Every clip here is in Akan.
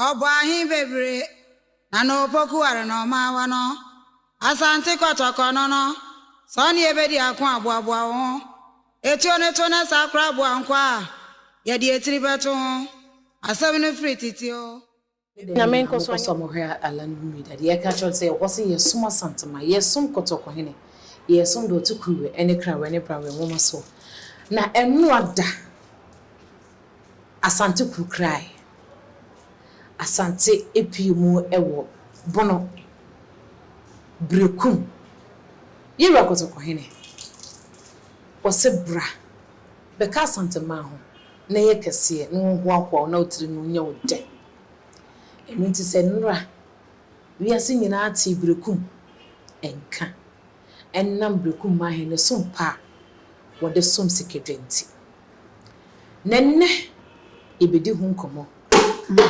Ɔbɔ ahe bebree na na opoku are na ɔma awa no. Asante kɔtɔkɔ no no, sɛ ɔne yɛ bɛdi ako a, boaboa wo ho. Etuo no to na saa koraa boa nkwa a yɛde etiri bɛto ho. Asɛm no firi tete o. Ne dɛn Nyame na nkɔ so mokɔ so a anyɛ mo hwɛ Alan Wimida deɛ yɛka kyerɛ no sɛ ɛwɔ sɛ yɛ som Asantema, yɛ som Kɔtɔkɔhene, yɛ som Dɔte Kuruwɛ ɛne Krawɛ ne Brawɛ nwoma soɔ na ɛnoa da. Asante Kurokrae, Asante apue mu wɔ Bono, Berekum. Ye'Wura Kɔtɔkɔhene, wɔ'se bra, bɛka Asanteman ho na yɛ kɛseɛ na wɔ'nhoahoa wo na wo tiri no nyɛ wo dɛ. Ɛno nti sɛ nnora, wiase nyinaa tee Berekum nka ɛnam Brekumah he ne som pa a wɔde som Sikadwa nti. Na nnɛ yɛbedi ho nkɔmmɔ na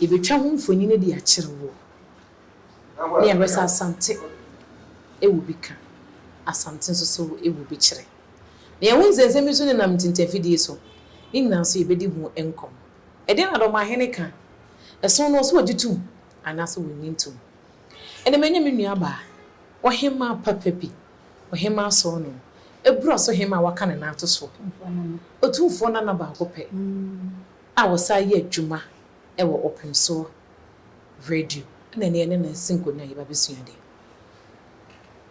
yɛbetwa ho mfonini de akyere wo. Ne yɛhwɛ sɛ Asante wɔ bi ka, Asante nso so wɔ bi kyerɛ. Na yɛahu nsɛnsɛm bi nso nenam ntintanfidie so. Ne nyinaa nso yɛbedi ho nkɔmmɔ. Ɛdeɛn na Dɔmahene ka? Ɛsono no, ɔse wɔgye tom anaasɛ wɔnnye ntom? Ɛnde manya me nuabaa, ɔhemmaa papa bi, ɔhemmaa Sɔɔnɔn, abura so hemmaa a wɔaka ne nan ato so, otumfoɔ nana baako pɛ a ɔsan yɛ adwuma wɔ Ɔpem So Radio na ɛnnɛ yɛne no asi nkonnwa a yɛba abɛsua adeɛ.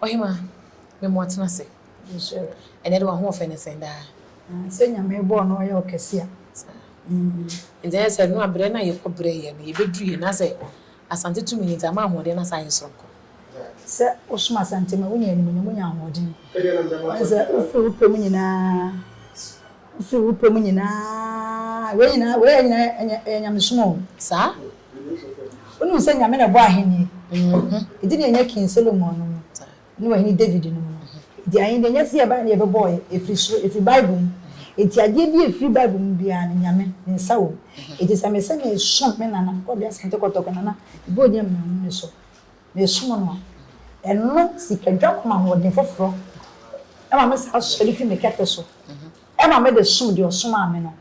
Ɔhemmaa, me mmoa tena ase. Ɛnɛ de w'ahoɔfɛ no sɛn daa? Sɛ Nyame bɔɔ no ɔyɛ ɔkɛse a. Nti ɛyɛ sɛ ɛno a berɛ no a yɛkɔbrɛeɛ no yɛbɛduruiɛ na sɛ Asante tumi no nti, ama ahoɔden no asan ayɛ soronko. Sɛ wosom Asante mu a, wonya animuonyam, wonya ahoɔden. Woahu sɛ wofiri wo pɛ mu nyinaa, wofiri wo pɛ mu nyinaa, wei nyinaa, wei nyinaa ɛyɛ nyamesom o. Saa? Wonim sɛ Nyame na ɛbɔɔ ahenni, ɛdi nea ɛnyɛ King Solomon no mu. ne Ɔhene David no mu no ho. Enti Ahenni nyɛ sɛ yɛbae na yɛbɛbɔe firi soro, ɛfiri Bible mu. Enti adeɛ biara a ɛfiri Bible mu biara no, Nyame Ne nsa wɔ mu. Enti sɛ mese meresom me Nana, Kwabena Asante Kɔtɔkɔ, Nana Ebodi Amanmu no so, meresom no a, ɛno sikadwam ahoɔden foforɔ ma me saa sɔre firi me kɛtɛ so Ɛma me de som deɛ ɔsomaa me no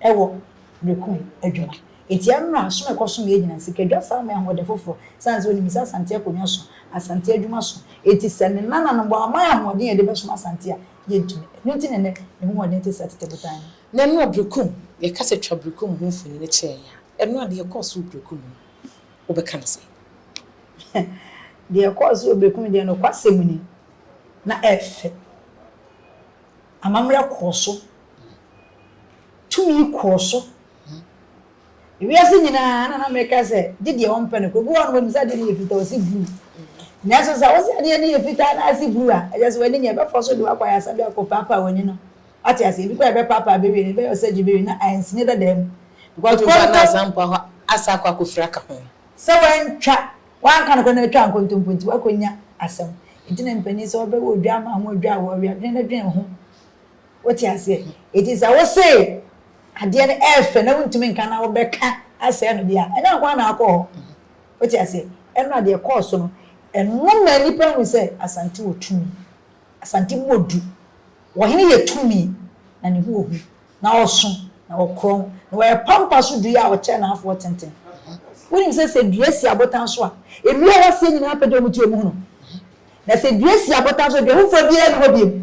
wɔ meko adwuma. Enti ɛmmra som ɛkɔsom yɛ nyina sika dwa saa ma ɛho ɔdɛ foforɔ sane sɛ wonim sɛ Asante akonwa so, Asante adwuma so. Enti sɛ ne nananom wɔamma yɛ ahoɔden a yɛde bɛsom Asante a, yɛntumi. Ɛno nti na ɛnnɛ ne ho ɔden te sɛ tete botan no. Na ɛno a Berekum, yɛka sɛ twa Berekum ho mfonini kyerɛ yɛn a, ɛno a deɛ ɛkɔɔ so wɔ Berekum no, wobɛka no sɛn? Deɛ ɛkɔɔ so wɔ Berekum deɛ nokwasɛm ni, na ɛyɛ fɛ. Amammerɛ kɔɔ so. Tumi kɔɔ so. Wiase nyinaa na na meka sɛ gye deɛ ɔmpɛ no kɔ. Obi wɔ hɔ a na wanim sɛ adeɛ no yɛ fitaa ɔsi blue. Nanso sɛ wose adeɛ no yɛ fitaa na ase blue a, ɛkyɛ sɛ w'ani nyɛ. Ɛbɛfɔ so de wakɔ ayaresabea akɔ paapaa w'ani no. Wate aseɛ? Ebi koraa ɛbɛpaapaa bɛwie no, ɛbɛyɛ surgery bɛwie no na ansini dada mu. Wotumi ba no a san mpo asa akɔ akɔfiri aka ho. Sɛ wantwa. Woanka nokorɛ na watwa nkontompo nti woakɔnya asɛm nti na mpanin sɛ wɔbɛwɔ odwammaa ho odwa a wɔwea dwene no dwene ho wote aseɛ nti sɛ wose adeɛ no ɛɛfɛ na wontumi nka na wobɛka asɛe no deɛ a ɛnyɛ nkoa na akɔ hɔ wote aseɛ ɛnora deɛ ɛkɔɔ so no ɛno maa nnipa hu sɛ Asante wɔ tumi Asante mmɔ du wɔhene yɛ tumi na ne ho wɔ hu Na ɔsõ, na ɔkorɔn, na ɔyɛ pampa so dua a ɔkyɛn n'afoa tenten. Wonim sɛ, sɛ dua si abotan so a, nnua a ɛwɔ aseɛ nyinaa pɛ dɛ wɔte wɔn ho no. Na sɛ dua si abotan so a, dua foforɔ biara nni hɔ bio.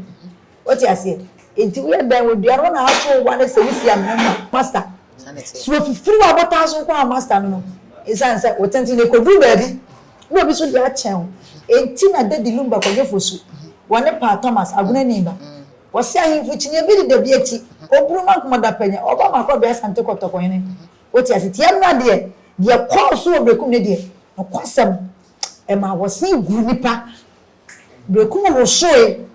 Wote aseɛ? Enti woyɛ dɛn wɔ dua no ho na ato wo bo anaa sɛ wosi amena mu a, Masta? Sɛ wɔfifiri w'abotan so nko ara a, Masta no no, ɛsiane sɛ wo tenten no, ɛkɔduru baabi na obi nso de akyɛn wo. Enti na Dadi Lumba kɔdwe fosu wɔ ne paa Thomas, Agunani ba. Wɔse ahemfo kyinie bi deda bi akyi Obunu ma nkoma da pɛnyɛ Ɔba ma kɔbea Asante kɔtɔkɔ hene Wote ase tie mmra deɛ Deɛ kɔɔ so wɔ Berekum ne deɛ Nokwasɛm Ɛmaa wɔse guu nnipa Berekum wosoe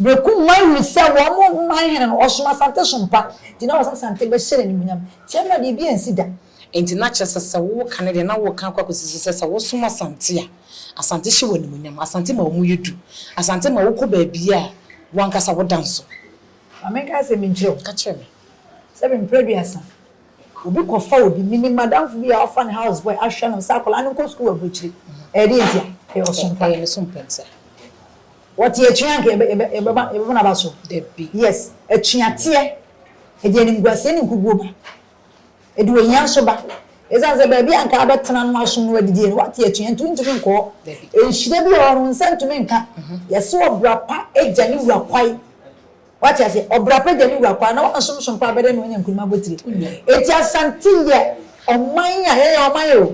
Berekum man hunu sɛ wɔn man hene no Ɔsom Asante som pa Nti na wɔse Asante bɛhyɛ no animuonyam Tie mmra deɛ ebi ansi da Enti na kyerɛ sɛ, sɛ woreka no deɛ, na woreka akɔ akɔsi so sɛ, sɛ wosom Asante a, Asante hyɛ wo animuonyam, Asante ma wɔyɛ du, Asante ma wokɔ baabiara a, wo ankasa woda nso. Ma menka asɛm bi nkyerɛ wo. Ka kyerɛ me. Sɛ bɛn mprɛ aduasa, obi kɔfa obi, menim madamfo bi a wafa ne house boy ahwɛ no sɛ akwadaa no nkɔ sukuu aburokyire. Ɛyɛ deɛ ntia? Ɛyɛ ɔsom pa. Ɛyɛ ne som pa ntia. Wɔte atua anka yɛbɛ, yɛbɛ, yɛbɛba, yɛbɛbɔ n'aba so? Dabi. Yes, atuateɛ, ɛde animguaseɛ ne nkuguo ba. Ɛde ohia nso ba. Esiane sɛ baabi a anka wobɛtena no aso no adidie no, woate atua nti wontumi nkɔ hɔ. Nhyira bi wɔ hɔ no, wo nsa ntumi nka. Yɛse ɔbra pa gya ne wura kwae. Woate aseɛ? Ɔbra pa gya ne wura kwae. Na woansomsom paa bɛdɛn na woanya nkunim abotire? Enti Asante yɛ ɔman a, yɛyɛ ɔman o.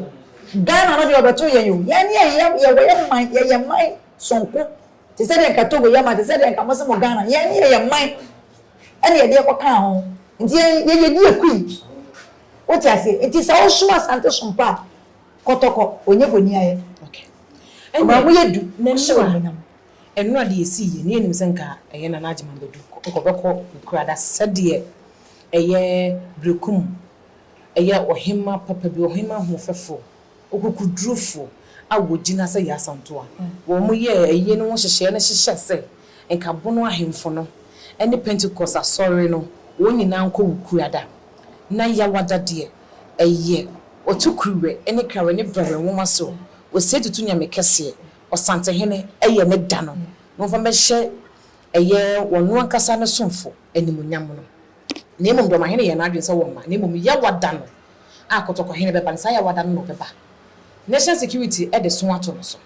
Ghana no deɛ wɔbɛtoo yɛn o. Yɛn ne yɛn yɛ, yɛyɛ man, yɛyɛ man sonko. Te sɛ deɛ anka Togo yɛ man, te sɛ deɛ anka mose mo Ghana. Yɛn ne yɛyɛ man. ɛna yɛde ɛkɔ kaa ho nti yɛn yɛdi akui wote aseɛ nti sɛ wosom asante som pa a kɔtɔkɔ ɔnyɛ boniayɛ ɔbaa mo yɛ du ɔhyɛ wɔ monyam ɛno na deɛ ɛsii yɛ ne yɛnim sɛ nka ɛyɛ na n'agyeman bɛdu nkɔbɛkɔ nkurada sɛdeɛ ɛyɛ berekum ɛyɛ ɔhema papa bi ɔhema hoɔfɛfoɔ. Okokodurufo a wogyina sɛ Yasanto a wɔyɛɛ eyi no ho nhyehyɛe no hyehyɛ sɛ Nkabono ahemfo no ne Pentekoste Asɔre no wɔn nyinaa nkɔ Wukuada. Ná Yawada deɛ, ɛyɛ Otukuruwɛ ne Kawɛ ne Bɛwɛ nwoma so Osetutu Nyame Kɛseɛ, Ɔsantehene, yɛ ne da no na wɔmfa mmɛhyɛ ɛyɛ wɔn ankasa ne somfo animuonyam no. Na mmom deɛ ɔmahene yɛɛ n'adwene sɛ wɔmma, na mmom Yawada no a kɔtɔkɔhene bɛba no, saa yawada no na ɔbɛba. National security de so ato no so.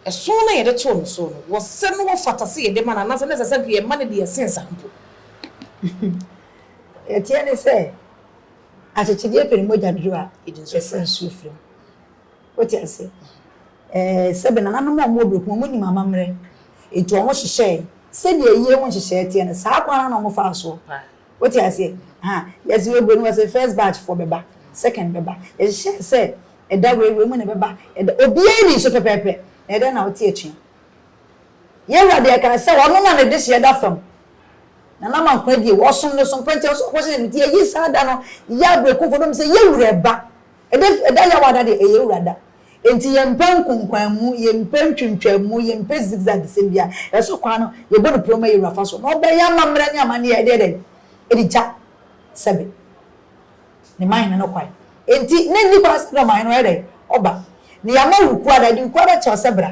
Ɛso no a yɛde too no so no, wɔsɛ no wɔfata sɛ yɛde ma no anaasɛ na ɛsɛ sɛ nka yɛma no deɛ ɛsen saa mpo. Deɛ ɛteɛ ne sɛ, akyekyedeɛ pɛ ne mogya dodo a ɛsa nsuo firi mu. Wote aseɛ? Ɛɛ, sɛbe nananom a wɔwɔ berɛ ko, wɔnim amammerɛ, enti wɔhyehyɛɛ sɛdeɛ ayie ho nhyehyɛeɛ teɛ no, saa kwan no ara na wɔfaa soɔ Wote aseɛ? Ahaa. Yɛse yɛbue no, wɔse first batch foɔ bɛba, second bɛba. Yɛhyehyɛɛ sɛ ɛda wei, wei mu na ɛbɛba, ɛda, obiara nni so pɛpɛɛpɛ. Na ɛdɛn na wote atua? Yɛn Wura deɛ kaa sɛ Ɔno na Ne dehyeɛ da fam. Nana Mankwaa die, wɔsom no so mpɛnkyɛn so, ɔkɔhyɛ, nti yɛyi saa da no, yɛ aberekumfoɔ, na wɔsɛ yɛn Wura ɛba. Ɛda ɛda yaw ada deɛ ɛyɛ wura da Enti yɛmpɛ nkonkwanmu yɛmpɛ ntwintwammu yɛmpɛ zigzag sɛm biara ɛsɔ kwan no yɛbɔ no prɛw ma yɛwura fa so na ɔbɛyɛ amammerɛ ne amanneɛ ɛde yɛ dɛn? ɛde gya sɛbe ne mahene no kwan Enti na nni kwan sɛ dɔmahene no ɔyɛ dɛn? ɔba Ne yɛama wukuada ɛde wukuada kyɛ wo sɛ bra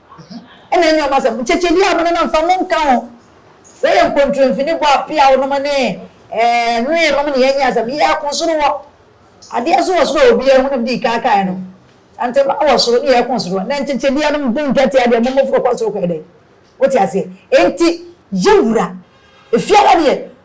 Ɛna ɛnyɛ wɔn asɛm. Nkyɛkyɛdi a monenam fa mo nka ho. Yɛyɛ nkontromfi ne bɔ apeaw nom ne ɛɛ nwee nom ne yɛnyɛ asɛm. Yɛ ko soro hɔ. Adeɛ so wɔ soro a obiara nhu na mede yi kaa kae no. Santemaa wɔ soro ne yɛ ko soro hɔ. Na nkyɛkyɛdiɛ nom bo ntwatea deɛ mo mmofra kɔ soro kɔ yɛ dɛn? Wote aseɛ? Enti yɛn wura, efiara deɛ.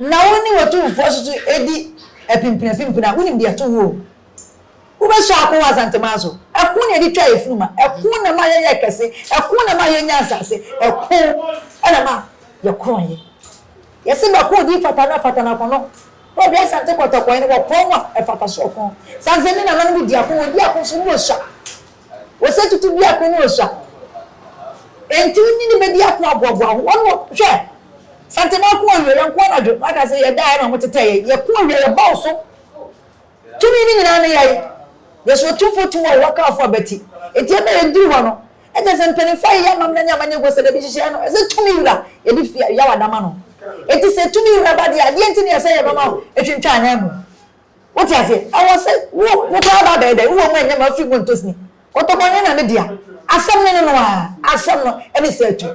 na wo ne w'atumfoɔ nso so di apimpinapimpina a, wonim deɛ ɛto wo o. Wobɛsɔ ako wɔ Asanteman so. Ɛko na yɛde twaa afunuma. Ɛko na ɛmaa yɛyɛɛ kɛse. Ɛko na ɛmaa yɛnyaa nsase. Ɛko na ɛmaa yɛkorɔnee. Yɛse bɛko odi fata na fata na kɔnɔ. Na ɔde Asante kɔtɔkɔe no, wɔkorɔn a ɛfata so ɔko. Saa nsɛm yi na nananom di ako, wɔdi ako nso na wɔsua. Ose tutu biako no osua. Enti wo nyini bedi ako aboaboa ho. Wɔn wɔ, hwɛ! Santema ko awie, yɛn ko anadwo. Waka se yɛdaeɛ na wɔn tetɛɛ yɛn. Yɛko awie, yɛba wo so. Tumi no nyinaa ne yɛn. Yesu Otumfoɔ tu wɔ wo wakaafo abati. Enti ɛna yɛduru hɔ no, ɛkyɛ sɛ mpaninfoɔ ayeyɛ amammerɛ ne amanneɛ gu sɛ dabi nhyehyɛeɛ no, ɛsɛ Tumi Wura, yɛde fi, yawada ma no. Enti sɛ Tumi Wura ba deɛ, adeɛ nti ne ɛsɛ yɛbɛma wo atwintwa ananmu? Wote aseɛ? Ɛwɔ sɛ wo, wo koraa ba abɛyɛ dɛn? Wowɔ mu ɛnyɛ ma afiri mu ntɔ sini. Kɔtɔkɔ nyɛ na ne dea. Asɛm no ne no ara. Asɛm no ne sɛ atu.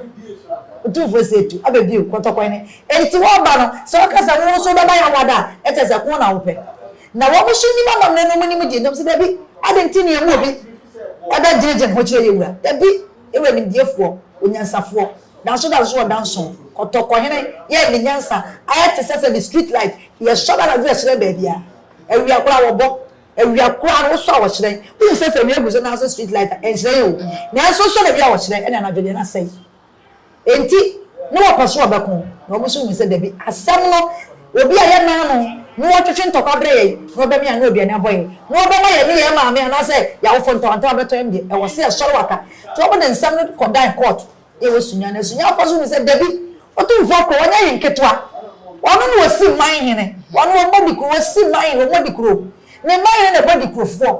Otumfoɔ se atu, aba bio, kɔtɔkɔ ne. Enti wɔba no, sɛ woka sɛ wo nso wobɛba Yawada a, ɛkyɛ sɛ ko na wopɛ. Na wɔn nso nim amammerɛ no, wɔnim deɛ, na wɔse, Dabi, adɛn nti na yɛmma obi ɛbɛgyinagyina ho kyerɛ yɛn wura? Dabi. Ewɔ enimdiefoɔ, onyansafoɔ, nanso da nso ɔda nson, kɔtɔkɔhene, yɛɛ ne nyansa ayɛ te sɛ sɛdeɛ street light, deɛ ɛsɔ no anadwo ɛhyerɛn baabiara. Awia koraa wɔbɔ, awia koraa no wosɔ a wɔhyerɛn. Wohu sɛ sɛ awia gu so nanso street light a, ɛnhyerɛn o, nanso wosɔ no awia a wɔhyerɛn, ɛnna anadwo deɛ na asɛe. Enti, na wɔpɛ so wɔbɛko, na wɔn nso hui sɛ dabi. Asɛm no, obi a yɛn naanom na wɔtwetwe ntɔkwa brɛ yɛn, na wɔbɛme ano aduane abɔ yɛn, na wɔbɛma yɛne yɛn maame anaasɛ yɛn awofo ntawantawa abɛtɔ yɛn deɛ, ɛwɔ sɛ yɛsɔre waka. Enti wɔde nsɛm no kɔdan kɔɔto de wɔ Sunya, na Sunyafo nso hui sɛ dabi, Otumfoɔ Kuro, ɔnyɛ hene ketewa. Ɔno na ɔsi mman hene. Ɔno, ɔbɔ Adikuro, ɔsi mman hene, ɔbɔ Adikuro. Ne mman hene na ɛbɔ Adikurofoɔ.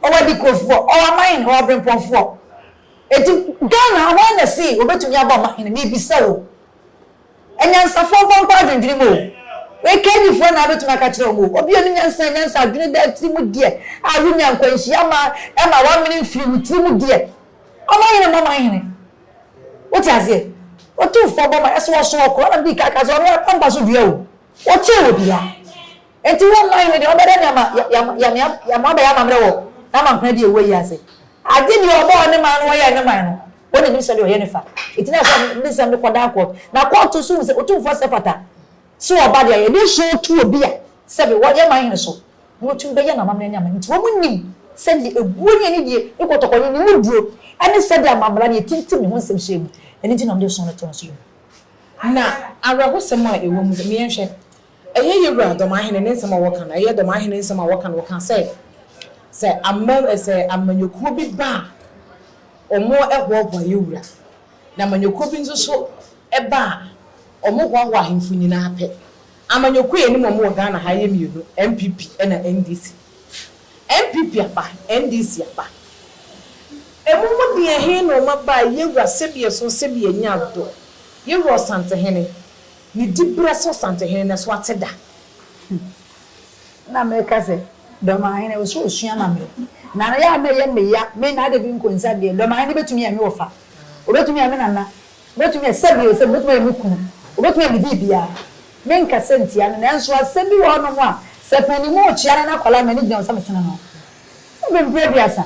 Ɔwɔ Adikurofoɔ, ɔwɔ aman hene, ɔwɔ aberempɔnfoɔ. Enti Ghana ha hwan na see obetumi abɔ ma hene? Mebisa wo. Anyansafoɔ mfa nkɔ adwendwene mu o. Wei KD foɔ na abetumi aka kyerɛ wɔn o. Obi a ɔnim nyansa nyansa adwene daa tiri mu deɛ a wonya nkwanhyia ma ɛma wamene mfiri wo tiri mu deɛ. Ɔmanhene mmɔ manhene. Wote aseɛ? Otumfoɔ bɔ ma ɛso ɔso ɔko ɛna mede kaka sɛ ɔno ara pampa so dua o. Ɔkyɛn obiara. Enti wo man no deɛ, wobɛda ne ama yɛama abɛyɛ amammerɛ wɔ n'amankora deɛ ɛwɔ yi ase. Agye deɛ ɔbɔ ɔne man no ɔyɛɛ ne man no, wɔn na ɛnim sɛdeɛ ɔyɛ no fa. Enti na ɛsɛ sɛ ɔde nsɛm no kɔda kɔɔto, na kɔɔto nso hu sɛ Otumfoɔ sɛ ɛfata sɛ ɔba deɛ ayɛ. Ɛdeɛn su a ɔtu obi a sɛbe ɔyɛ man hene so na watumi bɛyɛ no amammerɛ ne aman? Enti wɔn nnim sɛdeɛ ɛbuo ne anidie ne kɔtɔkɔ ne ne muduro ne sɛdeɛ amammara ne ɛtintim ne ho nsɛm hyia mu. Ɛno nti na wɔde sɔn no to no so yi mu. Na awerɛhosɛm a ɛwɔ mu deɛ, me yɛnhwɛ, Ɛyɛ yɛ wura Dɔmahene ne nsɛm a wɔka no, ɛyɛ Dɔmahene nsɛm a wɔka no, wɔka sɛ, sɛ amam, sɛ amanyɔkuo bi ba a, wɔn hoahoa yɛ wura, na amanyɔkuo bi nso so ba a, wɔn hoahoa ahemfo nyinaa pɛ. Amanyɔkuo a yɛnim wɔn wɔ Ghana ha yɛ mmienu, NPP ɛna NDC. NPP aba, NDC aba. Wɔn mu deɛn he na wɔn aba a, yɛ wura sɛbi ɛso, sɛbi ɛnya dɔ, yɛ wura Ɔsantehene? Ne diberɛ sɛ Ɔsantehene no so ate da. Na meka sɛ, Dɔmahene, wo sɛ ɔsua ma me. Na yɛ a na ɛyɛ me ya, me Nana Dabi Nkonsa deɛ, Dɔmahene bɛtumi ayɛ me wɔfa, ɔbɛtumi ayɛ me Nana, ɔbɛtumi ayɛ sɛdeɛ ɔyɛ sɛ me, ɔbɛtumi ayɛ me kunu, ɔbɛtumi ayɛ me biribiara. Menkasa ntia no, nanso asɛm bi wɔ hɔnom a, sɛ panin mu rekyea ne n'akwadaa a, m'ani gyina ho sɛ mesene no. Ɔbɛmpira aduasa.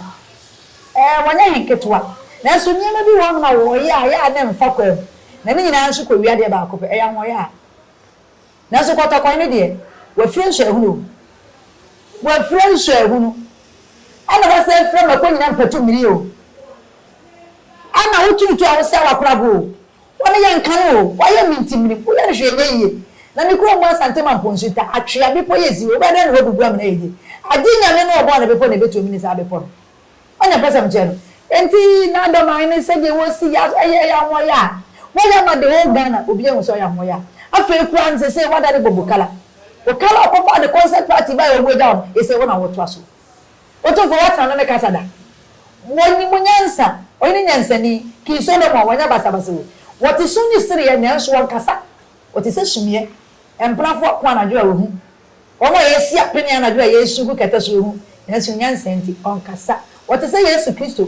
Ɛɛ, wɔnyɛ he nketewa. Nanso nneɛma bi wɔ hɔnom a wɔyɛ a, yɛ a na ɛmfa kwan mu, na ne nyinaa nso kɔwia adeɛ baako pɛ, ɛyɛ ahoɔyaa. Nanso kɔtɔkɔe no deɛ, wafira nsuahunu o, wafira nsuahunu, ɛna wasan afira mako nyinaa mpatummiri o, ɛna woturutu a wosɛe w'akoraboɔ o. Wɔne yɛn nka no o, wɔayɛ me ntimmirim, woyɛ no hwee nyɛ yie. Na me kurom mu Asante ma mpo nsu ta, atwea, bepɔ yɛ siw, wobɛyɛ dɛn ne hɔ bubu amena ayɛ yie? Agye Nyame no a ɔbɔɔ ne bepɔ na ɛbɛtu amene saa bepɔ no. Ɔnyɛ mpɛsɛm nkyerɛ no. Enti na Adomae no sɛdeɛ wɔsi yɛ aso ɛyɛ ɛyɛ ahoɔyaa a, wɔyɛ ama the whole Ghana, obiara hu sɛ ɔyɛ ahoɔyaa. Afei koraa no seesei wɔadane Bobo Kala. Okala a ɔkɔfaa ne concert party baeɛ a wɔagyaw no, ɛsɛ wo na wotoa so. Otumfo Yahweh no ne kasa da. Wɔnim nyansa. Ɔyɛ ne nyansani. King Solomon, wanya basabasa o. Wɔte sum ne sereɛ, nanso wɔnkasa. Wɔte sɛ sumiiɛ. Mpenafoɔ ako anadwo a wɔhu. Wɔn a yɛasi apene anadwo a yɛresu gu kɛtɛ so rehu, nanso nyansa nti, ɔnkasa. Wɔte sɛ Yesu Kristo,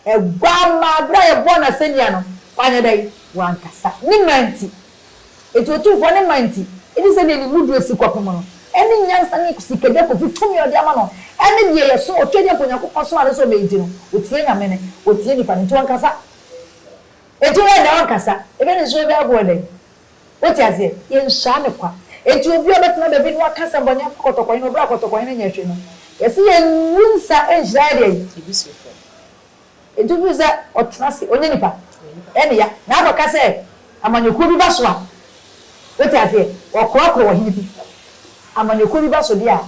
Aguammaa. Berɛ a yɛbɔɔ no asɛnnua no, wanyɛ dɛn? Wankasa. Ne mma nti, Enti otumfoɔ no mma nti, gye sɛ deɛ ne mu duro si kɔpem no, ɛne nyansa ne sikadwa akofi tumi a ɔde ama no, ɛne deɛ yɛ so, ɔtwa agya mpo Onyankopɔn somaa no sɛ ɔmɛ egye no, ɔtia Nyame no, ɔtia nipa no, enti ɔnkasa. Enti wɛn dɛ ɔnkasa, ɛbɛ ne so ɛbɛ ɛbo ɛdɛn? Wote aseɛ? Yɛn saa ne kwa. Enti obi a ɔbɛtena baabi no aka sɛ bɔne afa kɔtɔkɔnye no, ɔbrɛ a kɔtɔkɔnye no nyɛ hwe no, yɛse yɛn ngu nsa nhyira yɛ deɛn? Ebi so fam. Enti wohu sɛ ɔtena ase, ɔnyɛ nipa. Ɛne ya. Na afei ɔka sɛ amanyɔkuo bi ba so a, wote aseɛ, wɔkorɔkorɔ ɔhene bi. Amanyɔkuo bi ba so deɛ a,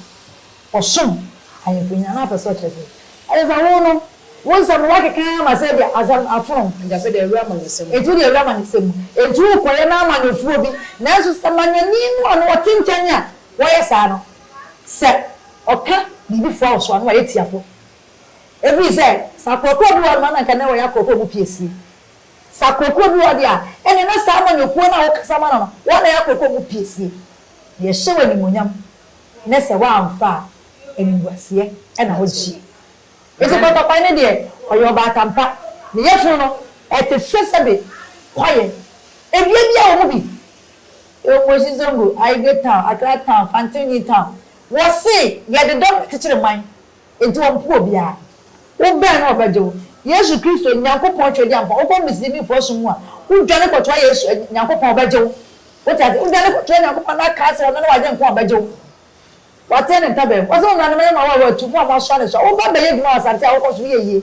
ɔsom ahemfo nyinaa. Na wopɛ sɛ ɔkyerɛ sɛ, ɛne sɛ wo no, wo nsɛm no woakeka ara ma sɛ ebia asɛm afono. Agya sɛ deɛ awura amanyɔsɛm mu. Enti wo deɛ awura amanyɔsɛm mu. Enti wokɔyɛ no amanyɔfoɔ bi. Nanso sɛ manyɔni no a na ɔte nkyɛn a wɔyɛ saa no, sɛ ɔka biribi foa wo so a, na wayɛ tiafoɔ. Ɛfiri sɛ, sakorɔkorɔ bi wɔ hɔ no a na anka na wɔyɛ akorɔkorɔ mu piesie. Sakorɔkorɔ bi wɔ hɔ deɛ a, ɛnneɛ na saa amanyɔkuo no a wokasa ma no no, wɔn na ɛyɛ akorɔkorɔ mu piesie. Yɛhyɛ wo animuonyam ne sɛ woamfa a, animguaseɛ na wogyeeɛ. Enti Kwatakwae no deɛ, ɔyɛ ɔbaatampa. Ne yafunu no, ɛte sɛ sɛbe kwaeɛ. Dua biara wɔ mu bi. Omueshi Zongo, Ayigbe Town, Accra Town, Fantini Town. Wɔse, yɛde dɔm bɛkyekyere man. Enti wɔmpo obiara. Wobɛn no a ɔbɛgye wo. Yesu Kristo, Nyankopɔn Twɛdiampa. Wokɔ Muslimifo som mu a, wodwane kɔtoa Yesu, Nyankopɔn, ɔbɛgye wo. Wote ase? Wodwane kɔtoa Nyankopɔn na ka sɛ ɔno ne w'Agyenkwa a, ɔbɛgye wo. Watene ne ntaban mu. Ɔse, Mo nuanom, ɛyɛ mo a wɔawɔ atu, mo a moasoa ne soa. Wo ba bɛyɛ adwuma wɔ asante a wokɔ so no, yɛ yie.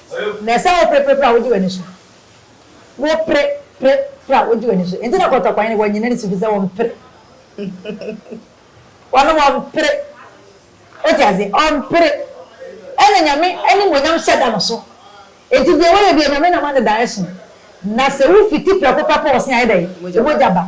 Na ɛsɛ sɛ wopre pre pre a wogye w'ani so. Wopre pre pre a wogye w'ani so. Enti na kɔtɔkwan no, wɔnnye n'ani so firi sɛ ɔmpre. Wɔnom ɔmpre. Wote aseɛ? Ɔmpre. Ɛna Nyame animuonyam hyɛ da no so. Enti deɛ woyɛ biara, Nyame nam ane da ɛso. Na sɛ wofiti prɛko pɛ kɔ ɔse a, ɛyɛ dɛn? Mogya ba.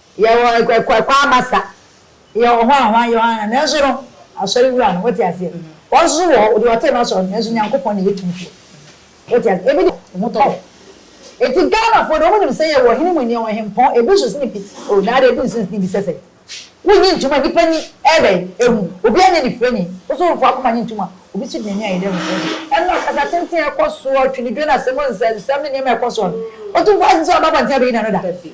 Yɛwɔ Kwakwaa Basa, yɛwɔ hɔ a wɔayɛ wɔn anaa, nanso no, asɔre wura no, wote aseɛ? Wɔn nso so wɔ hɔ, deɛ ɔtee no asɔre no, nanso Nyankopɔn na ɛyɛ tumfoɔ. Wote aseɛ? Ebi deɛ, wɔn ho tɔ wɔn. Enti Ghanafoɔ deɛ, wɔnim sɛ yɛwɔ hene mu nneɛma, ɔhempɔn, ebi nso sene bi. O, na adeɛ, ebi nso sene bi sɛ sɛn? Wonnye ntom a nnipa ani rebɛn, ehu, obiara nyɛ anifirani, Osomfoɔ akoma nye ntom a obi nso gyina ani a yɛda mu hwɛ no. Ɛnna akasa tenten a ɛkɔ soɔ, atwenedwene, asɛm nsɛmnsɛm ne nneɛma a ɛkɔ soɔ no, Otumfoɔ agye sɛ waba abɔnten abɛyi n'ano da? Dabi.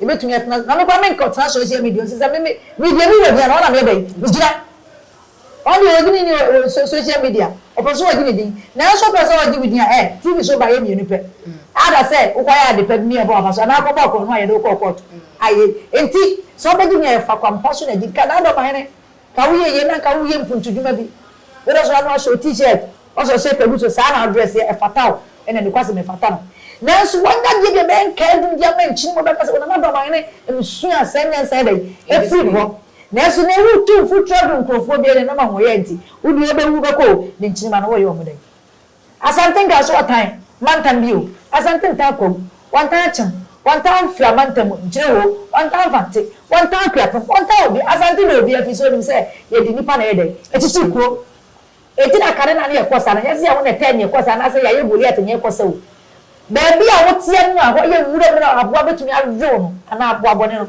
Yɛbɛtumi atena, na meba menkɔtena social media ɔsɛ sɛ me me me deɛ me wɔ hia no hɔ na meyɛ dɛn megyina. Ɔno deɛ ɔgye ne din wɔ wɔ so social media ɔpɛ sɛ ɔgye ne din nanso wopɛ sɛ ɔgye wo din a ɛ TV so ba yɛ mmienu pɛ either sɛ wokɔyɛ ade pa bi ne ɛbɔ w'afa so anaa wokɔbɔ akorɔno a yɛde wo kɔɔ kɔɔto ayɛ nti sɛ ɔbɛgye din a ɛfa kwan pa so na gye nka n'adɔmahene Ka wo yɛ yie na nka wo yɛ mpuntudwuma bi. Wo dɔ so ano ahyɛ wo t-shirt, wasɔ shape agu so, saa na wo dress yɛ, ɛfata wo, ɛna nokwasɛm ɛfata no. Nanso wanya deɛ bi a ɛbɛyɛ nkae dum de ama nkyini mu a wobɛka sɛ onam adɔ ma hene nsuo a saa nyansa yɛ dɛn, afiri ne hɔ. Nanso nea ɛwɔ tumfo twerɛdo nkurɔfoɔ biara nyanam ahoɔyɛ nti, wo deɛ wobɛwu wobɛkɔ o, ne nkyini mma no wɔyɛ wɔn dɛn? Asante Nka nso wɔtan mantam bio. Asante ntan Kwawu, wɔntan Akyem, wɔntan Mfra mantamu, Nkyerehoo, wɔntan Mfante, wɔntan Akuapem, wɔntan Obi. Asante na Obi afiri sɛ onim sɛ yɛde nnipa na ɛyɛ dɛn? Ɛkyekyere kuro. Enti na kane na ne yɛkɔ saa no, nyɛ sɛ yɛwo na ɛtɛɛ ne yɛkɔ saa anaasɛ yɛayɛ Goliat na yɛkɔ sɛ o. Baabi a woteɛ no a hɔ yɛ nwura mu na aboa bɛtumi awe wo no anaa aboa bɔne no,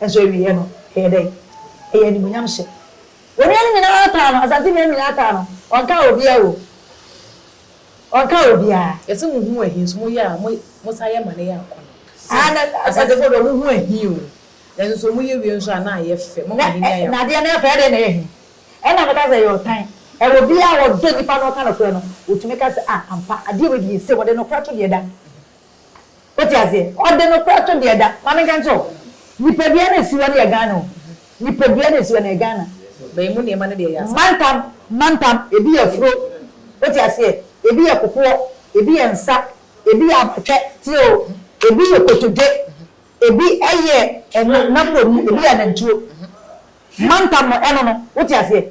Nso awieɛ no, ɛyɛ dɛn? Ɛyɛ animuonyam hyɛ. Onua no nyinaa ataa no, Asante nua no nyinaa ataa no, ɔnkaa obiara o. Ɔnkaa obiara. Yɛse mo hu ahi nso mo yɛ a, mo san yɛ ma no yɛ akɔ no. Asantefoɔ deɛ ɔmo hu ahi o, nanso nso ɔmo yɛ wie nso a na ayɛ fɛ, mo ama ahenni ayɛ akɔ. Na adeɛ no yɛ fɛ, ɛdeɛn na ɛyɛ ahi? Ɛna meka sɛ ɛyɛ ɔtan. Ɛwɔ biara a ɔdɔ nipa na ɔka nokorɛ no, ɔtumi ka sɛ ah ampa, adeɛ wei deɛ yɛ sei, wɔde nokorɛ to deɛ da. Wote aseɛ? Ɔde no koraa to deɛ ɛda. Ma menka nkyerɛ wo, nipadua no a ɛsi hɔ no yɛ Ghana o. Nipadua no a ɛsi hɔ no yɛ Ghana. Bɛn mu nneɛma no deɛ ɛyɛ asɛm. Mantam, mantam, ebi yɛ afuro, wote aseɛ, ebi yɛ kokoɔ, ebi yɛ nsa, ebi yɛ abatwɛ, tie o, ebi yɛ kotodwe, ebi yɛ ɛno, n'aborɔni, ebi yɛ anantwuo. Mantam no, ɛno no, wote aseɛ?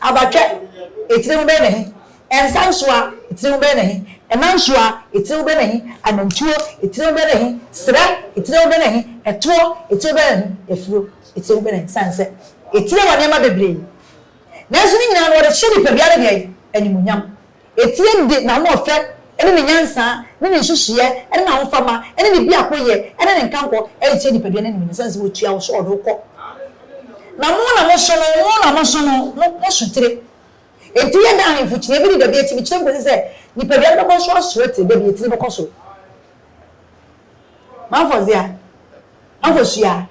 Abatwɛ, etire ho bɛyɛ na he? Nsa nsoa, etire ho bɛyɛ na he? Ɛna nsoa, etire ho bɛyɛ na he? Anantuo, etire ho bɛyɛ na he? Serɛ, etire ho bɛyɛ na he? Ɛtoɔ, etire ho bɛyɛ na he? Afuro, etire ho bɛyɛ na he? Esiane sɛ etire wɔ nneɛma bebree, nanso ne nyinaa no wɔde hyɛ nipadua no deɛn? Animuonyam. Etie mu de n'ahoɔfɛ ne ne nyansa ne ne nhyehyeɛ ne n'ahofama ne ne biakoyɛ ne ne nkankɔ rekyerɛ nipadua no anim no, sane sɛ wɔtua wo so ɔde wo kɔ. Na mo na moso no, mo na moso no, mo, mo sotire. Enti yɛ dɛ ahemfo kyini, ebi de dabi akyini kyerɛ nkɔsi sɛ nipadua no bɛkɔ so asoɛ te dɛ bi, etini bɛkɔ so. Maame Fɔzia, Maame Fohyia,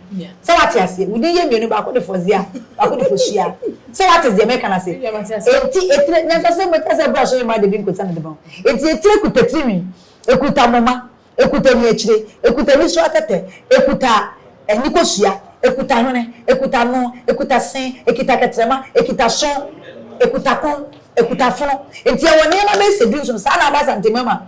sɛ woate aseɛ, wo din yɛ mmienu, baako de Fɔzia, baako de Fohyia. Sɛ woate deɛ meka no ase? Enti etire, nyansasɛm mu ɛka sɛ ɛberɛ a so yoma de bi nkosa ne de bɔn. Enti etire kuta tirinwi, ɛkuta moma, ɛkuta ani akyire, ɛkuta ani so atɛtɛ, ɛkuta ani kosua, ɛkuta hwene, ɛkuta ano, ɛkuta se, ɛkita kɛtrɛma, ɛkita aso, ɛkuta kɔn, ɛkuta fono. Enti ɛwɔ nneɛma bɛyɛ sɛ du-nson saa na Aba Asantehene mu ama.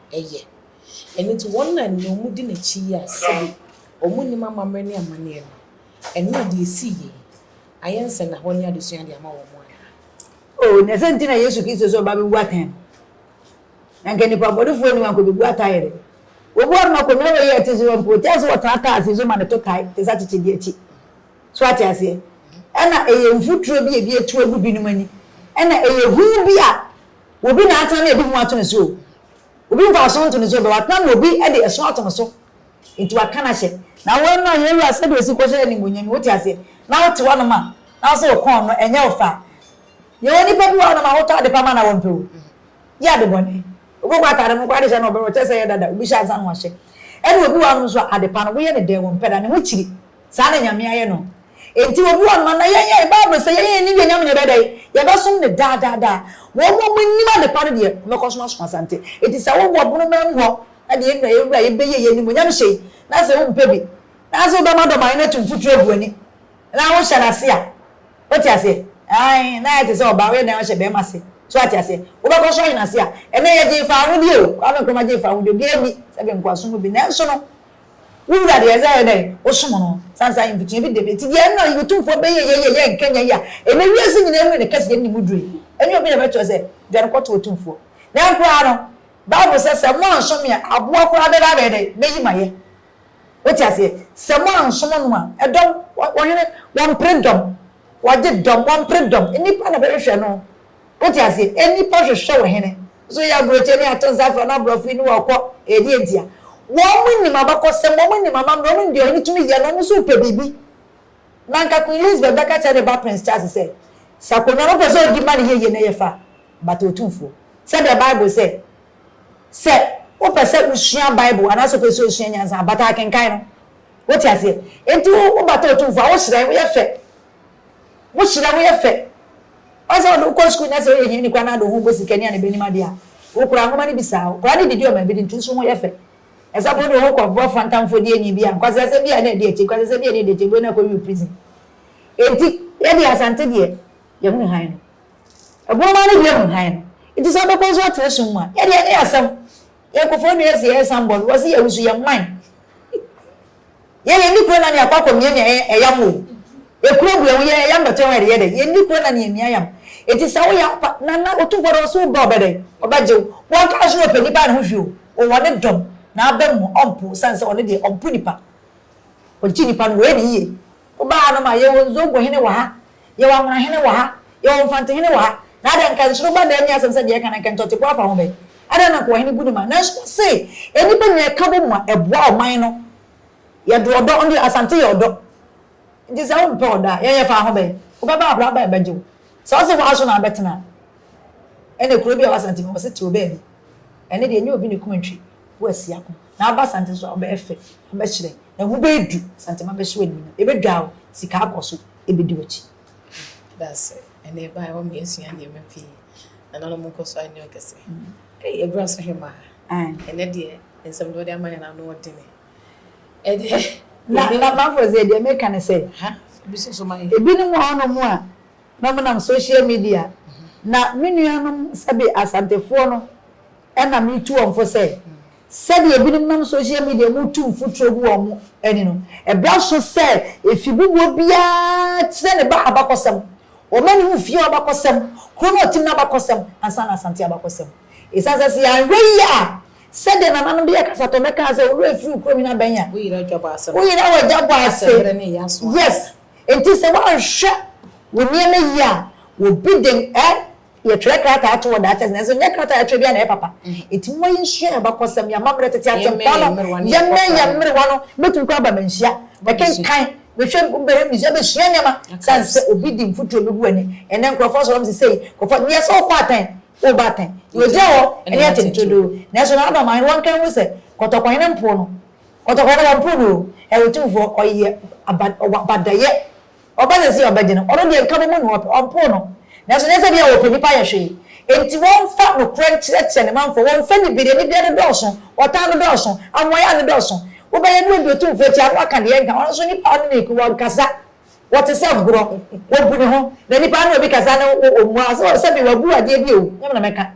ɛyɛ. Ɛno nti, wɔn a nea wɔdi n'akyi yi a sɛbe wɔnnim amammerɛ ne amanneɛ no, ɛno na deɛ ɛsii yei no, ayɛ nsɛnnahɔ ne adesua de ama wɔn anaa? Oo, na sɛ nti na Yesu Kristo sɛ ɔba bɛwu atɛn no, na anka nnipa abɔnefoɔ anim anka ɔbɛbu atɛn yere. Wɔbu ano ma Konua wei a ɛte sɛ wɔn poo, te ara sɛ wɔtaa taa afei nso ma no to tae te sɛ akyekyedeɛ akyi. So ate aseɛ? Ɛna ɛyɛ mfuturo bi a ebi atu agu binom ani. Ɛna ɛyɛ hu bi a Obi na atena na ebi ho ato no so o, obi mfaso nto no so bɛ, watena na obi de ɛso ato no so, enti waka no ahyɛ. Na wo na yɛn Wura sɛdeɛ ɔsi kɔhyɛ animuonyam yi, wote aseɛ, na wote hɔnom a, na wo sɛ wo kɔn no, ɛnyɛ wo fɛ a. Yɛwɔ nnipa bi wɔ hɔnom a, wotɔ ade pa ma no a, wɔmpɛ o, gye ade bɔne. Obi kɔ ataade no koraa de hyɛ na ɔbɛhwɛ, ɔkyerɛ sɛ ɛyɛ dada, obi hyɛ ansa na wahyɛ. Ɛna obi wɔ hɔnom nso a, ade pa no, woyɛ no dɛn, wɔmpɛ da, ne ho kyiri. Saa na Nyame ayɛ no. Enti obi wɔ noma na yɛn ɛ, Bible sɛ yɛn a yɛnnim yɛn Nyame no yɛbɛyɛ dɛn? Yɛbɛsom no daa daa daa. Wɔn a wɔnnim adepa no deɛ, wɔbɛkɔ so asom asante. Enti sɛ wowɔ bonoma mu hɔ na deɛ yɛn Wura yi bɛyɛ yi animuonyam hyɛ yi, na sɛ wompɛ bi, na sɛ wobɛmadɔma yɛn atu mfuturo agu w'ani, na wohyɛ no ase a, wote aseɛ? Ae, na ayɛ te sɛ ɔbaa, woyɛ dɛn ahyɛ bɛrima ase? So woate aseɛ? Wobɛkɔ so ahyɛ no ase a, ɛnnɛ yɛgyee faa ahodie o, Kwame Nkrumah gyee faa ahodie, obiara nni sɛ bɛnkoasom mu bi, nanso no, Wo wura deɛ ɛsɛ yɛ dɛn? Wo som no sansa ayi mfikyia bi dede ti deɛ ɛnna ɔyi otumfoɔ bɛyɛ yɛ yɛ yɛ nkɛnyɛ yi a ɛnɛ wiase nyinaa mu ne kɛse yɛ ne mu duro yi ɛnyɛ obi na bɛkyerɛ sɛ dwane kɔto otumfoɔ na nkoraa no bible sɛ sɛ mo ansom me a aboa koraa bɛba abɛyɛ dɛn bɛyi ma yɛ wote aseɛ sɛ mo ansom no a ɛdɔm wɔhene wɔmpere dɔm wɔgye dɔm wɔmpere dɔm nnipa na bɛhwehwɛ no. Wote aseɛ? Nnipa hwehwɛ wo hene. Nso woyɛ aburokyire ne ato nsa frɛ no aborɔfo yi ne wɔn kɔ. Ɛyɛ deɛ ntia? Wɔn nim abakɔsɛm, wɔn nim amammerɛ, wɔn nim deɛ ɔhene tumi yɛ, na wɔn nso repɛ biribi. Na anka Queen Elizabeth bɛka kyerɛ ne ba Prince Charles sɛ, Sɛ akonnwa no pɛ sɛ ɔdi ma no yɛ yie na yɛ fa a, but Otumfoɔ, sɛdeɛ Bible sɛ, sɛ wopɛ sɛ wosua Bible anaasɛ wopɛ sɛ wosua nyansa a, bata akenkan no. Wote aseɛ? Enti wo, wobata Otumfoɔ a, wohyerɛn, woyɛ fɛ. Wohyira woyɛ fɛ. Ɔyɛ sɛ ɔde wo kɔ sukuu na sɛ ɔyɛ hiani koraa na ade wo ho bɔ sika ni a na ɛbɛnim adeɛ a, wokura nwoma no bisa wo. Koraa ne didi ɔma bi di nti wo nso ho yɛ fɛ. Ɛsɛ sɛ wode wo ho kɔbɔ Fanta mfɔdiani bi a nkwasasɛm bi a na ɛdi akyi, nkwasasɛm bi a na ɛdi akyi, ɛbue na akɔ Rio prison. Enti, yɛ deɛ Asante deɛ, yɛhunu hann no. Ɛboɔ mmaa no deɛ hu hann no. Enti sɛ wobɛkɔ nso atena sum mu a, yɛ deɛ ɛnyɛ asɛm. Yɛn nkofoɔ nua ɛsɛ yɛn san bɔ no wɔse yɛn wusu yɛn man yɛn yɛn ni kuro nani akɔ akɔ mia mia yɛn ɛyam o ekuro bu ɛho yɛn ɛyam bɛtɔ ho ɛde yɛ dɛ yɛn ni kuro nani yɛn mia yam eti sɛ woyɛ apa nana otumfoɔ dɛ ɔse wo ba ɔbɛ dɛ ɔbɛ gyew wɔn ka ɔse na ɔpɛ nipa ne ho hwɛ o ɔwɔ ne dɔm na aba mu ɔmpo sane sɛ ɔne deɛ ɔmpo nipa ɔgye nipa no wɔyɛ ne yie wo ba ha no ma yɛwɔ nzobo hene wɔ ha Yɛwɔ Amonahene wɔ ha, yɛwɔ Mfantehene wɔ ha, na adɛn, nka nsuro ba na ɛnyɛ asɛm sɛ deɛ ɛka no, nka ntɔteboa afa ho bɛn? Adɛn na Nkoahene gu ne ma? Nanso wɔse, nnipa nyina ɛka bɔ mu a, ɛboa ɔman no. Yɛde ɔdɔ, ɔno deɛ Asante yɛ ɔdɔ, nti sɛ wompɛ ɔdɔ a, yɛn yɛfa ho bɛn? Wobɛba abra bɛn bɛgye wo? Sɛ wɔse hɔ ara so na abɛtena a, ɛne kuro bi a ɛwɔ Asante mu a wɔse te wo baabi, ɛne deɛ ɛnyɛ obi na ɛkum ntwe wo asi ako, na aba Asante so a, wobɛyɛ fɛ, wobɛhyerɛn, na ho bɛɛdu, Asante ma bɛhyɛ wo animuonyam, ɛbɛdwaa wo, sika akɔ so. ɛbɛdi w'akyi. Meda ase. Ɛnna ɛbaeɛ hɔ ma yɛasua nneɛma pii. Nananom nkɔ so anyɛ ɔkɛse. Ei, abura so hemmaa. Ɛnnɛ deɛ, nsɛm deɛ wɔde ama yɛn no, ano yɛ den. Ɛdeɛ. Na, na Mafo sɛ, deɛ meka ne sɛ. Ha, fa bi si so ma yɛn. Ebinom wɔ hɔnom a, na wɔnam social media, na me nuanom sɛbe Asantefoɔ no, ɛna metu wɔn fo sɛ, Sɛdeɛ ebinom nam social media mu tu mfuturo gu wɔn ani no, ɛbra so sɛ afibubuo biara kyerɛ ne ba abakɔsɛm. Wɔma ne ho fie hɔ abakɔsɛm, kuro no a ɔtem no abakɔsɛm, ansa na Asante abakɔsɛm. Ɛsiane sɛ sɛ yɛanhwɛ yie a, sɛdeɛ nananom de yɛ kasatɔmmɛ kaa sɛ, Owura firi wo kurom yi na bɛn a, wo yera dwa bɔ ase no, wo yera wɔ dwa bɔ ase. Asɛmberɛ no yɛ aso ade. Yes. Enti sɛ woanhwɛ wo nneɛma yie a, obi de eh, Yɛtwerɛ krataa to wɔ daakye ase, nanso ɛnyɛ krataa a yɛtwerɛ biara na ɛyɛ papa. Enti momma yɛnsua yɛn abakɔsɛm, yɛn amammerɛ, tete Asɛmpa no, yɛmmɛn yɛn mmerewa no. Mɛtumi koraa aba Manhyia, bɛkenkan, bɛhwɛ, bɛhwɛ museum, bɛsua nneɛma, sane sɛ obi di mfuturo a ɛbɛgu w'ani. Ɛnnɛ nkurɔfoɔ asɔre wɔn sesei, nkurɔfoɔ, deɛ sɛ wokɔ atɛn, woreba atɛn, deɛ ɔgyina hɔ ne atɛn turodoo. Nanso na Adam ahene wɔnka nhu sɛ, Kɔtɔkɔ hene mpoo no, kɔtɔkɔ hene wɔmpoo no o, ɛyɛ ɔtumfoɔ, ɔyɛ aba, ɔwɔ abadayɛ. Ɔba sɛ Sion bɛgye no, ɔno deɛ nka bɛmu no ɔpɛ, ɔmpoo no. Nanso nyɛ sɛ bia ɔpɛ nnipa yɛ hwee enti wɔmfa nokorɛ nkyerɛkyerɛ ne manfoɔ, wɔmfa anibereɛ, anibereɛ no dɔɔso, ɔtan no dɔɔso, amoayɛ a ano dɔɔso. Wobɛyɛ ne ɔdi otumfoɔ akyi a na waka deɛ ɛnka, ɔno nso nnipa a ɔne no reko, wɔnkasa, wɔte sɛ gorɔ, wɔbu ne ho, na nnipa ne obi kasa no, ɔmmua, sɛ sɛbe wabu adeɛ bi o, nyɛ me na mɛka.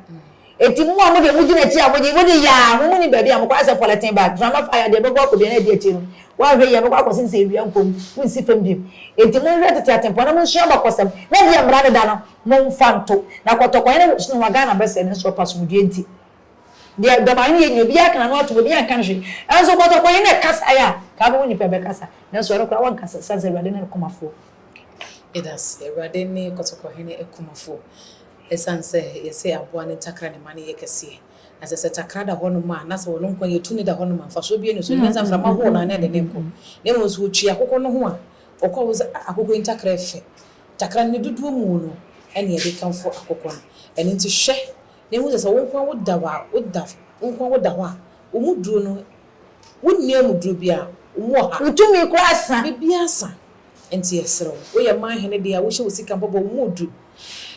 Enti mo a mode mogyina akyi a mogye mode yaa mo muni baabi a mokɔ ayɛ sɛ pɔlɛten bag, mframa fa ya deɛ ɛbɛbɔ akɔ biara na ɛdi akyire no woanhwɛ yie a ɛbɛkɔ akɔsen sɛ awia mpo mu wonsi fam bio. Enti monhwɛ tete atempɔn na monsua abakɔsɛm na deɛ mmara no da no momfa nto na kɔtɔkɔyɛ ne wosono ho a Ghana bɛsɛe nanso ɔpɛ asomdwoeɛ nti deɛ dɔm ayɛ no yɛ nyina obiara aka n'ano atom obiara nka hwee nanso kɔtɔkɔyɛ na ɛkasaeɛ a kaa bɛhu nnipa ɛbɛkasa nanso ɛno koraa wɔnkasa ɛsiane sɛ Awurade ne no kumafoɔ. Yɛda ase. Awurade ne kɔtɔkɔhene akumafoɔ. Esiane sɛ yɛse aboa no ntakra ne mma no yɛ kɛseɛ, na sɛ sɛ takra da hɔnom a, na sɛ wɔn nkwa yɛ tumi da hɔnom a, mfasoɔ biara nni so. Ɛnyɛ sɛ mframa hohoro no a na ɛde no rekɔ, na mmom sɛ ɔtwi akokɔ no ho a, ɔkɔ a, wohu sɛ ah, akokɔ yi ntakra yɛ fɛ. Takra no, ne dodoɔ mu no na yɛde kamfo akokɔ no. Ɛno nti hwɛ na hu sɛ, sɛ wo nkoa woda hɔ a, woda, wo nkoa woda hɔ a, wo mu duro no, wonni amuduro biara, wo mu ɔha. Wo tumi koraa sa. Biribiara sa. Enti yɛsrɛ wo, woyɛ man hene de a, wohyɛ wo sika bɔbɔ wo mu duru.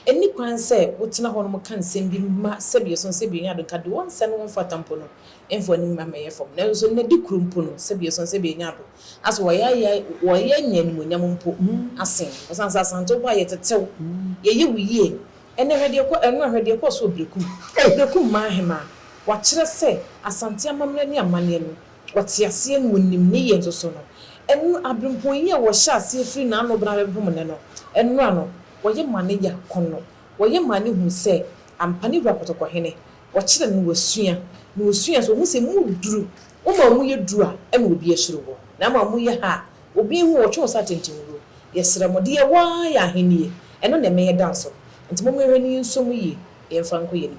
Enni kwan sɛ wotena hɔnom ka nsɛm bi ma sɛbi ɛsono sɛbi enya ado nka de wɔn nsa ne wɔn mfata mpo no mfa w'anim mma mmɛyɛ fam. Nanso so nnɛ de koro mpo no sɛbi ɛsono sɛbi enya ado a so wɔyaayae wɔyɛ nya animuonyam mpo asen wo? Ɔsan sɛ Asante wo bɔ a yɛtetew, yɛyɛ wo yie. Ɛnna hwɛ deɛ ɛkɔ ɛno a hwɛ deɛ ɛkɔɔ so wɔ Berekum. Berekum man hemaa, wɔakyerɛ sɛ Asante amammerɛ ne amanneɛ no Ɔteaseɛ no mu nim ne yɛ nso so no, ɛno abrempɔn yi a wɔhyɛ aseɛ firi n'ano bena bɛpem ne no, ɛnora no, wɔyɛ ma ne ya ko no, wɔyɛ ma ne hu sɛ ampa ne wura pɔtɔkɔhene, wɔkyerɛ no na wasua, na ɔsua nso ɔhu sɛ mu duru, wo ma mu yɛ duru a, ɛna obi ahyire wo, na ama mu yɛ ha a, obi nhu wo, wɔtwe wo sɛ atɛntɛnwuo, yɛsrɛ mo, deɛ yɛwɔ ara yɛ ahennie, ɛno na ɛmɛ yɛda nso, nti momma yɛnhwɛ na yɛnsua mu yie, na yɛmfa nkɔ yɛn anim.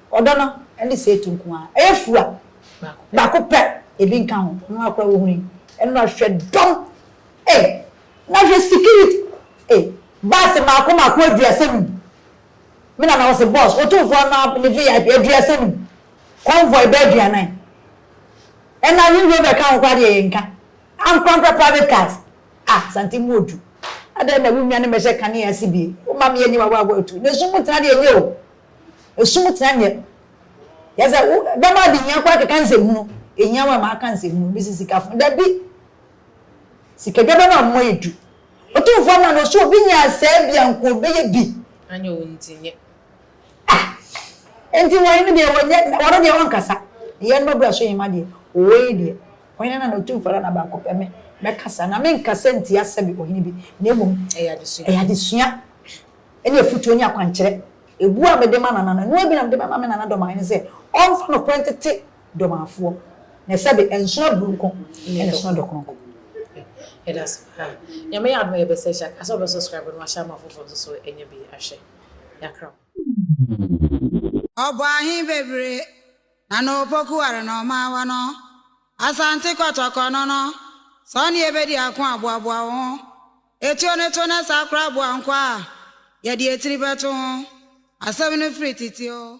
Ɔdɔ no ne seetu nko ara. Ɛyɛ fua baako pɛ, ebi nka ho. Ɛno ara koraa wohunu yi. Ɛno ara hwɛ dɔm ei! Na hwɛ security ei! Bus mmaako mmaako aduasa num. Me nana ɔse bus otumfoɔ no ara ne VIP aduasa num. Convoy bɛyɛ aduanan. Ɛna Range Rover ka ho koraa deɛ yɛnka. Ankorankora private cars. Ah Asante mu odu. Adɛn na wonwane mmɛhyɛ kanea ase bi? Woma me ani wawawa tu. Na esum mu tena deɛ ɛnyɛ o. Esum tsena nyɛ yɛ dza wo dɛm adehia koraa kɛkã ndzɛhunu, ehia wo a makã ndzɛhunu, bi dze sikafo, dabi, sikadwaba no amma edu. Otumfo ama no so obi nya asɛɛ bi a nka obɛyɛ bi. Anyɛ wo ntsi nyɛ. Ah! Ntsi hɔn no deɛ wɔnyɛ, wɔno deɛ wɔnkasa. Eyɛ no mabura so hema deɛ, owɔ yi deɛ, ɔhene no na otumfo ara na baako pɛ, me, mɛkasa, na menkasa ntsia sɛbe ɔhene bi, na mmom, Ɛyɛ adesua. ɛyɛ adesua. ne afotuo ne akwankyerɛ. Ɛbuo a mede ma Nana no, ɛno ara bi na mede bɛma me Nana dɔmmae no sɛ ɔmfa nokorɛ ntete dɔmmaefoɔ, na sɛbe ɛnsono aburo nko na ɛsono dɔ kronkron. Yɛdase paa. Nyame yɛ adom a yɛbɛ search a, ka sɛ wɔbɛ subscribe na wɔahyɛ ama foforɔ nso so anya bi ahwɛ. Yɛakra mo. Ɔbɔ ahe bebree na na Opoku ware na ɔma awa no Asante kɔtɔkɔ no no, sɛ ɔne yɛ bɛdi ako a boaboa wo ho. Etuo no to na saa koraa boa nkoa a yɛde etiri bɛto ho. Asɛm no firi tete oo.